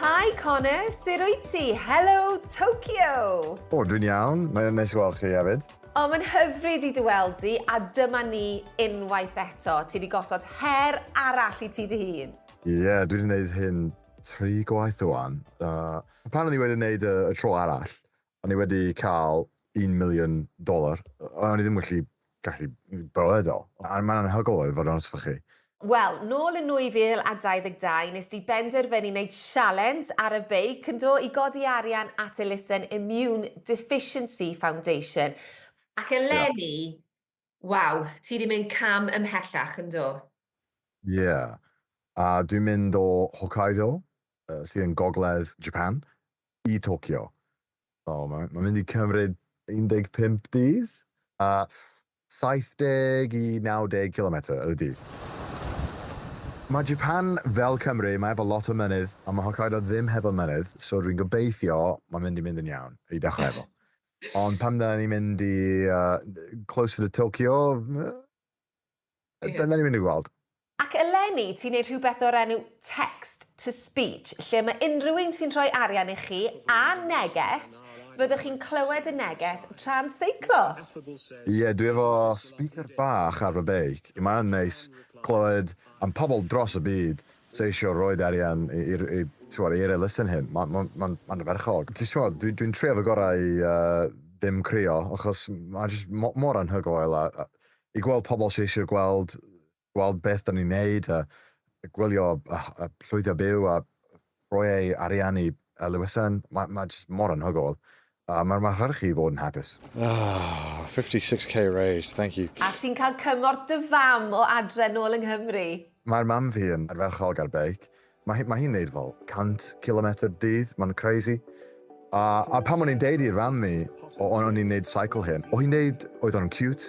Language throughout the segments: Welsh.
Hi Connor, sut wyt ti? Helo Tokyo! O, dwi'n iawn. Mae'n neis gweld chi hefyd. O, mae'n hyfryd i dy weld di, a dyma ni unwaith eto. Ti wedi gosod her arall i ti dy hun. Ie, yeah, dwi wedi gwneud hyn tri gwaith rwan. Uh, pan o'n i wedi gwneud y, y tro arall, O'n i wedi cael un miliwn dollar, a o'n i ddim wedi gallu bywyd o. A mae'n anhygoel oedd, i fod yn onest efo chi. Wel, nôl yn 2022, nes di benderfynu wneud sialens ar y beic, yndo, i godi arian at elusen Immune Deficiency Foundation. Ac eleni, Waw, ti 'di mynd cam ymhellach, yndo? Ie. A dwi'n mynd o Hokkaido, sydd yn gogledd Japan, i Tokyo. So, mae'n ma mynd i cymryd 15 dydd a 70 i 90 kilometr ar y dydd. Mae Japan fel Cymru, mae efo lot o mynydd, a mae Hokkaido ddim hefo mynydd, so dwi'n gobeithio mae'n mynd i mynd yn iawn i dechrau efo. Ond pan dyna ni'n mynd i uh, closer to Tokyo, uh, yeah. dyna ni'n mynd i gweld. Ac eleni, ti'n gwneud rhywbeth o'r enw text to speech, lle mae unrhyw un sy'n rhoi arian i chi a neges, fyddwch chi'n clywed y neges tra'n seiclo. Ie, yeah, dwi efo speaker bach ar fy beic. Mae'n neis clywed am pobl dros y byd ceisio rhoid arian i'r t'mod i'r elusen hyn. Ma' ma' ma'n ma'n ardderchog. Ti t'mod dwi dwi'n trio fy gorau i yy ddim crio achos ma' jyst mo- mor anhygoel a a i gweld pobl sy eisiau gweld gweld beth 'dan ni'n neud a gwylio a a llwyddio byw a rhoi eu arian i elusen ma' ma' jyst mor anhygoel. A mae'r maharch i fod yn hapus. Ahh 56 k raised, thank you. A ti'n cael cymorth dy fam o adre nôl yng Nghymru? Mae'r mam fi yn ardderchog ar beic. Mae mae hi'n neud fel 100 cilometr dydd, mae'n crazy. A a pan o'n i'n deud i'r fam fi o o'n i'n neud seicl hyn, o hi'n deud oedd o'n ciwt.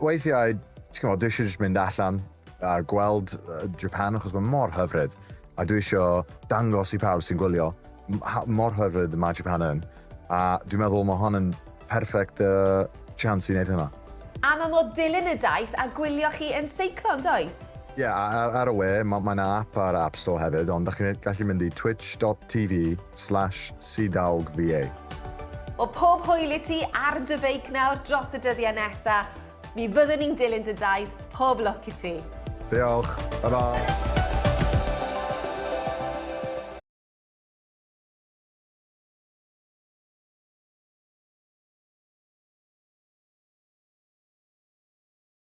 weithiau, ti'n gwybod, dwi eisiau jyst mynd allan a gweld uh, Japan, achos mae mor hyfryd. A dwi eisiau dangos i pawb sy'n gwylio mor hyfryd mae Japan yn. A dwi'n meddwl mae hon yn perffaith uh, chance i wneud hynna. A mae mor dilyn y daith a gwylio chi yn seiclo, yn does? Ie, yeah, ar, ar y we, mae ma yna app ar App Store hefyd, ond da chi'n gallu mynd i twitch.tv slash cdawgva. O pob hwyl i ti ar dy feic nawr dros y dyddiau nesa. Mi fyddwn ni'n dilyn dy daith, pob lwc i ti. Diolch. Tara.